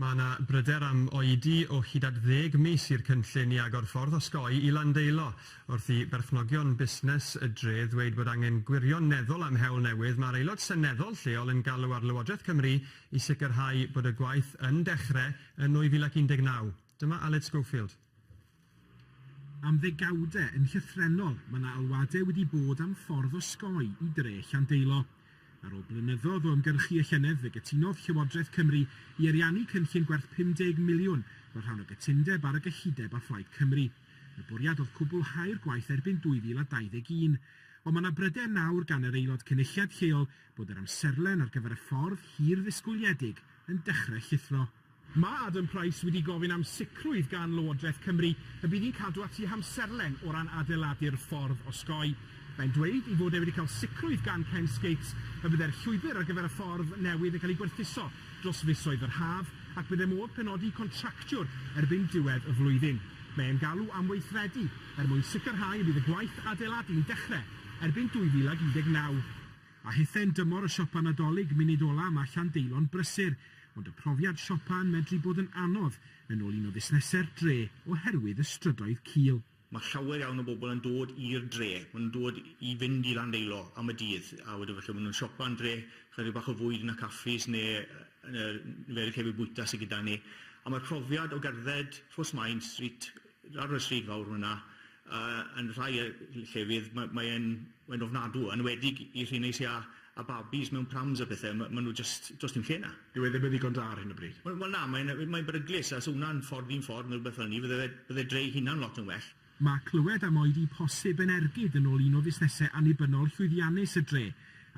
Mae yna bryder am oedi o hyd at ddeg mis i'r cynllun i agor ffordd osgoi i Landeilo, wrth i berchnogion busnes y dref ddweud bod angen gwirioneddol am hewl newydd. Mae'r Aelod Seneddol lleol yn galw ar Lywodraeth Cymru i sicrhau bod y gwaith yn dechrau yn 2019. Dyma Aled Schofield. Am ddegawdau yn llythrennol, mae 'na alwadau wedi bod am ffordd osgoi i dre Llandeilo. Ar ôl blynyddoedd o ymgyrchu y llynedd fe gytunodd Llywodraeth Cymru i ariannu cynllun gwerth 50 miliwn fel rhan o gytundeb ar y gyllideb â Phlaid Cymru. Y bwriad oedd cwblhau'r gwaith erbyn 2021. Ond mae 'na bryder nawr gan yr Aelod Cynulliad lleol bod yr amserlen ar gyfer y ffordd hir ddisgwyliedig yn dechrau llithro. Mae Adam Price wedi gofyn am sicrwydd gan Lywodraeth Cymru y bydd hi'n cadw at ei hamserlen o ran adeiladu'r ffordd osgoi. Mae'n dweud ei fod e wedi cael sicrwydd gan Ken Skates y byddai'r llwybr ar gyfer y ffordd newydd yn cael ei gwerthuso dros fisoedd yr haf ac byddai modd penodi contractiwr erbyn diwedd y flwyddyn. Mae e'n galw am weithredu er mwyn sicrhau y bydd y gwaith adeiladu'n dechrau erbyn 2019. A hithau'n dymor y siopa Nadolig, munud ola' yma Llandeilon brysur, ond y profiad siopa yn medru bod yn anodd, yn ôl un o fusnesau'r dre, oherwydd y strydoedd cul. Mae llawer iawn o bobl yn dod i'r dre, maen nhw'n dod i fynd i Landeilo am y dydd, a wedyn falle maen nhw'n siopa yn dre, chydig bach o fwyd yn y caffis neu yn y niferydd llefydd bwyta sy gyda ni, a mae'r profiad o gerdded Rhos Maen Street, ar y stryd fawr fan'na, A yn rhai yy llefydd ma' mae e'n mae'n ofnadw, yn enwedig i rhei neis ia a babis mewn prams a pethe ma' ma' nhw jyst does dim lle 'na. Dyw e ddim yn ddigon da ar hyn o bryd. Wel wel na mae'n yy mae'n beryglus a 'sa wnna'n ffordd un ffordd neu rwbeth fel 'ny fydde fe bydde dre ei hunan lot yn well. Mae clywed am oedi posib yn ergyd yn ôl un o fusnesau annibynnol llwyddiannus y dre.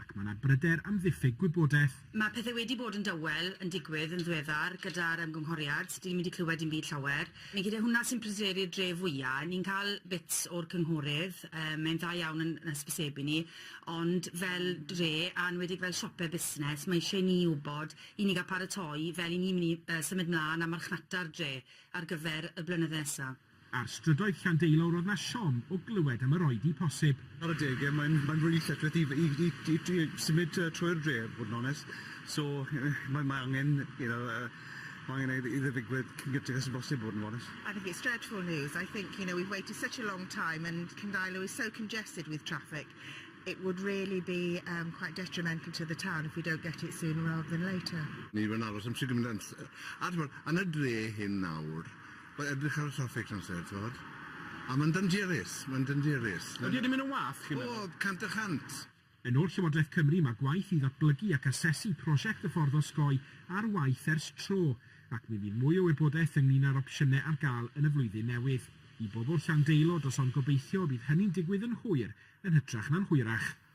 ac mae yna bryder am ddiffyg gwybodaeth. Mae pethe wedi bod yn dawel yn digwydd yn ddiweddar gyda'r ymgynghoriad, dyn ni'm wedi clywed dim byd llawer. Mae gyda hwnna sy'n pryderu'r dre fwya', ni'n cael bits o'r cynghorydd, yy mae'n dda iawn yn yn hysbysebu ni, ond fel dre, a enwedig fel siope busnes, mae isie i ni wbod, i ni ga'l paratoi fel i ni myn' i yy symud mlan a marchnata'r dre ar gyfer y blynydde nesa. Ar strydoedd Llandeilo roedd 'na siom o glywed am yr oedi posib. Ar adeg e mae'n mae'n rili llethrith i i i i i symud yy trwy'r dre bod yn onest so yy mae mae angen you know yy ma' angen i i fe ddigwydd cyn gynted â bosib bod yn onest. I think it's dreadful news, I think you know we've waited such a long time and Cyndailo is so congested with traffic, it would really be yym quite detrimental to the town if we don't get it sooner rather than later. Ni fy'n aros am shwd gyment o amser a t'mod yn y dre hyn nawr Wel edrych ar y traffig trw'r amser t'mod? A ma'n dangerous, ma'n dangerous. Ydi e 'di mynd yn wath chi'n meddwl? O, cant y chant. Yn ôl Llywodraeth Cymru, mae gwaith i ddatblygu ac asesu prosiect y ffordd osgoi ar waith ers tro, ac mi fydd mwy o wybodaeth ynglŷn â'r opsiynau ar gael yn y flwyddyn newydd. I bobl Llandeilo, does ond gobeithio y bydd hynny'n digwydd yn hwyr, yn hytrach na'n hwyrach.